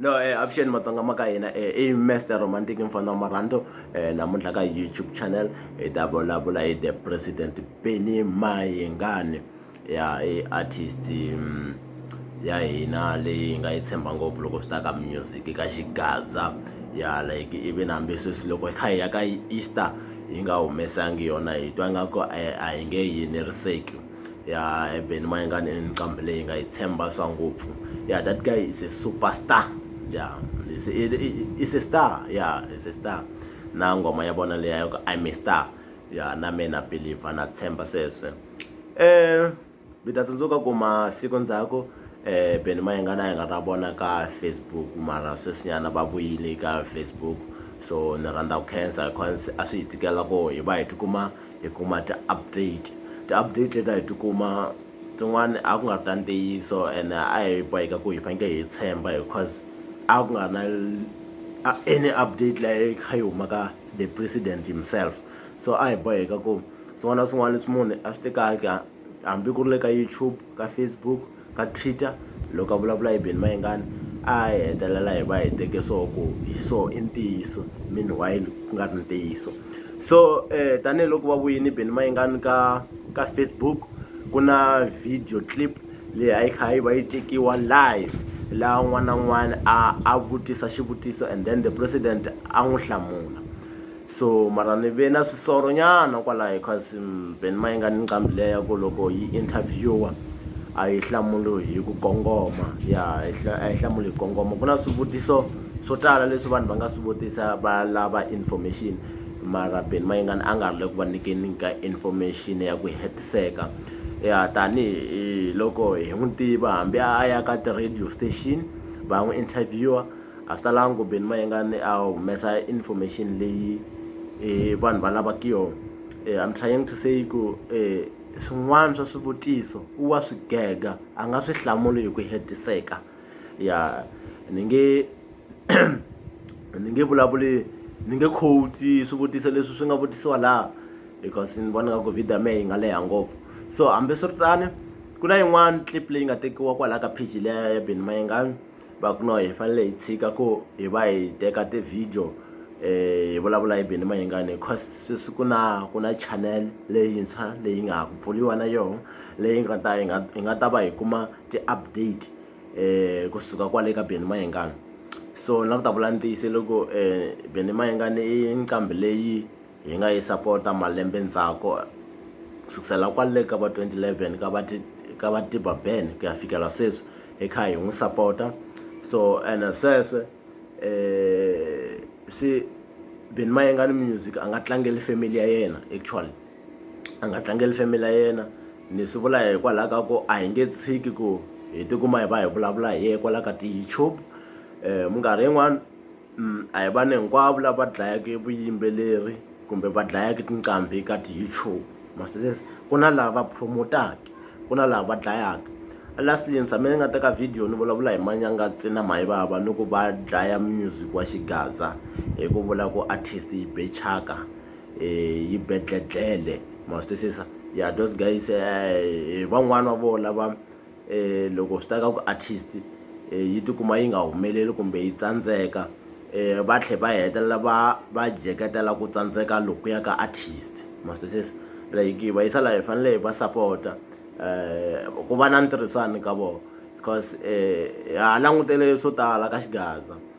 No eh avuxeni matsonga ma ka hina eh i Mister Romantic mfana wa marhando eh namuntlha ka YouTube channel hi ta vulavula hi the president Benny Mayengani ya i artist mm, ya hina leyi nga yi tshemba ngopfu loko swi ta ka music ka xigaza ya like even hambi sweswi loko hi kha hi ya ka Easter yi nga humesangi yona hi twa nga ku a hi nge yi eneriseki Yeah Eben mayengani i nqambi leyi nga yi tshemba swa ngopfu yeah that guy is a super star yeah is is a star yeah is a star na nghoma ya vona leyi ya ku I may star yeah na me na believer na tshemba sweswe eh mi ta tsundzuka ku masiku ndzhaku eh Benny Mayengani a hi nga ta vona ka Facebook mara sweswinyana va vuyile ka Facebook so ni rhandza ku khensa because a swi hi tikela ku hi va hi tikuma hi kuma ti update ti update leti a hi tikuma tin'wani a ku nga ri ta ntiyiso and a hi boheka ku hi fanekele hi tshemba because a ku nga na any update leyi kha yi huma ka the president himself so a hi boheka ku swin'wana na swin'wana leswi munhu a swi tekaka hambi ku ri le ka YouTube ka Facebook. ka Twitter loko a vulavula hi Benny Mayengani a hi hetelela hi va hi teke swona ku hi swona i ntiyiso meanwhile ku nga ri ntiyiso so tanihiloko va vuyile Benny Mayengani ka ka Facebook ku na video clip leyi a yi kha yi va yi tekiwa live laha un'wana na un'wana a a vutisa xivutiso and then the president a n'wi hlamula. So mara ni ve na swisoro nyana kwalayo cuz Ben ma inga ni nqambi liya ya ku loko yi interviewer a yi hlamuli hi ku kongoma ya a yi hlamuli hi ku kongoma ku na swivutiso swo tala leswi vanhu va nga swi vutisa va lava information mara Ben ma inga ni a nga ri le ku va nyikeni ka information ya ku hetiseka ya tanihi loko hi n'wi tiva hambi a ya ka ti radio station va n'wi interviewer. a swi talanga ku Benny Mayengani a humesa information leyi eh, vanhu va lavaka yona eh, I'm trying to say ku eh, swin'wana swa swivutiso u wa swi gega a nga swi hlamuli hi ku hetiseka ya ni nge ni nge vulavuli ni nge quote swivutiso leswi swi nga vutisiwa laha because ni vona nga ku video ya mehe yi nga leha ngopfu so hambiswiritani ku na yin'wana clip leyi nga tekiwa kwalaha ka page leya ya Benny Mayengani va ku no hi fanele hi tshika ku hi va hi teka ti-video hi vulavula hi Benny Mayengani cause sweswi ku na ku na channel leyintshwa leyi nga ha ku pfuriwa na yona leyi nga ta hi nga hi nga ta va hi kuma ti-update um kusuka kwale ka Benny Mayengani so na ku ta vula ntiyiso loko um Benny Mayengani i nqambi leyi Hi nga yi sapota malembe ndzhaku ku sukusela kwale ka va 2011 ka va ka va Tiba Ben ku ya fikela sweswi hi kha hi n'wi sapota so and sweswe eh si Ben Mayengani Music a nga tlangeli family ya yena actually a nga tlangeli family ya yena ni swi vula hikwalaho ka ku a hi nge tshiki ku hi tikuma hi va hi vulavula hi ye kwala ka ti-YouTube minkarhi yin'wani a hi vanhu hinkwavo lava dlayaka vuyimbeleri kumbe va dlayaka tinqambi ka ti-YouTube masizisi ku na lava promote-aka ku na lava va dlayaka lastly ni tshame ni nga teka video ni vulavula hi manyanga ntsena mayivava ni ku va dlaya music wa xigaza hi ku vula ku artist yi be chaka um yi be dledlele ma swi twisisa ya those guys um van'wani va vona lava um loko swi ta ka ku artist um yi tikuma yi nga humeleli kumbe yi tsandzeka um va tlhe va hetelela va va jeketela ku tsandzeka lokuya ka artist maswisisa like va yisa laha hi fanele hi va sapota um ku va na ntirhisano ka vona because um ha langutele swo tala ka xigaza.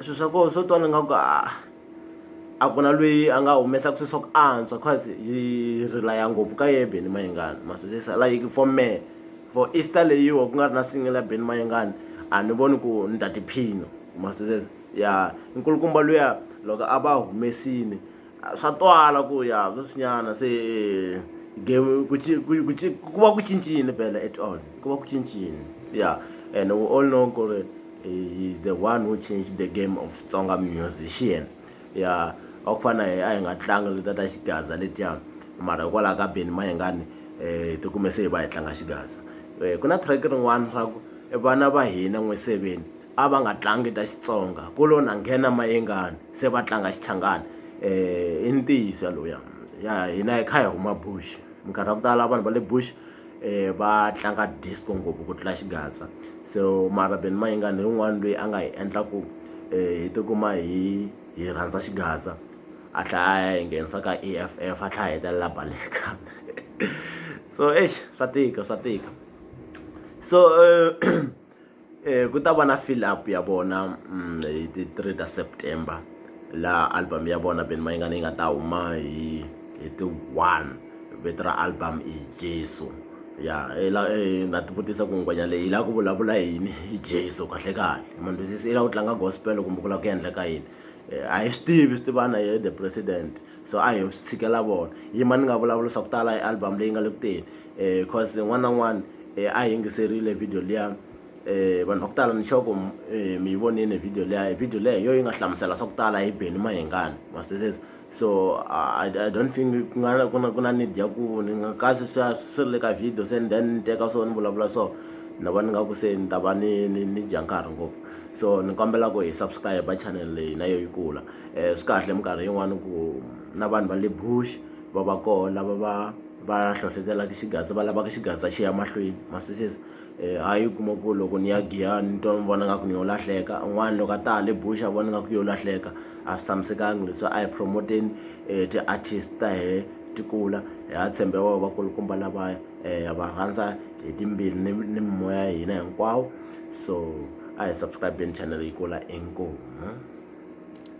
swilo swa kona swo twa ni nga ku a a ku na lweyi a nga humesaka swilo swa ku antswa cause yi relaya ngopfu ka ye Benny Mayengani ma swi twisisa like for me for Easter leyiwa ku nga ri na single ya Benny Mayengani a ni voni ku ni ta tiphina ma swi twisisa ya nkulukumba luya loko a va humesile. swa twala ku ya sweswinyana se game ku ku va ku cincile phela at all ku va ku cincile ya and we all know ku ri he is the one who changed the game of tsonga musician ya a ku fana a hi nga tlangi leta ta xigaza letiya mara hikwalaho ka beni mayengani um eh, tikume se hi va hi tlanga xigaza um ku na track rin'wana swa ku vana va hina n'we seveni a va nga tlangi ta xitsonga ku lo na nghena mayengani se va tlanga xichangani um i ntiyiso yaloya ya hina hi kha hi huma bush minkarhi ya ku tala vanhu va le bush um va tlanga disco ngopfu ku tlula xigaza so marabeni mayengani hi un'wana loyi a nga hi endla ku um eh, hi tikuma hi hi rhandza xigaza a tlhela a hi nghenisa ka e f f a tlhela hetelela baleka so exi swa tika swa tika so um ku ta va na fill up ya vona hi ti three ta September laha album ya vona Benny Mayengani yi nga ta huma hi hi ti one vito ra album i Jesu ya i la i nga ti vutisa ku ngwenya leyi yi lava ku vulavula hi yini hi Jesu kahle kahle ma ni twisisa yi lava ku tlanga gospel kumbe ku lava ku endleka yini a hi swi tivi swi tiva na yehe the president so a hi swi tshikela vona yi ma ni nga vulavula swa ku tala hi album leyi nga le ku teni. eh cause n'wana na n'wana eh, a yingiserile video liya eh vanhu va ku tala ni xoko eh, mi yi vonile video liya video leyo yo yi nga hlamusela swa ku tala hi beni mahingani masitesesi so uh, I, i don't think ku nga ku na ku na need ya ku ni nga kasi swa swi ri le ka video se and then ni teka so ni vulavula so ni va ni nga ku se ni ta va ni ni ni dya nkarhi ngopfu so ni kombela ku hi subscribe channel leyi na yo yi kula um swi kahle minkarhi yin'wani ku na vanhu va le bush va va kona va va va hlohletelaka xigaza va lavaka xigaza xi ya mahlweni ma swi twisisa um ha yi kuma ku loko ni ya giyani ni twa ni vona nga ku ni yo lahleka un'wana loko a ta hale buxa vona nga ku yo lahleka a swi tshamisekanga leswi a hi promoteni um ti-artist ta hehe ti kula hi ha tshembe va vakulukumba lavaya um ha va rhandza hi timbirhi ni ni mimoya ya hina hinkwawo so a hi subscribe-eni channel yi kula inkomu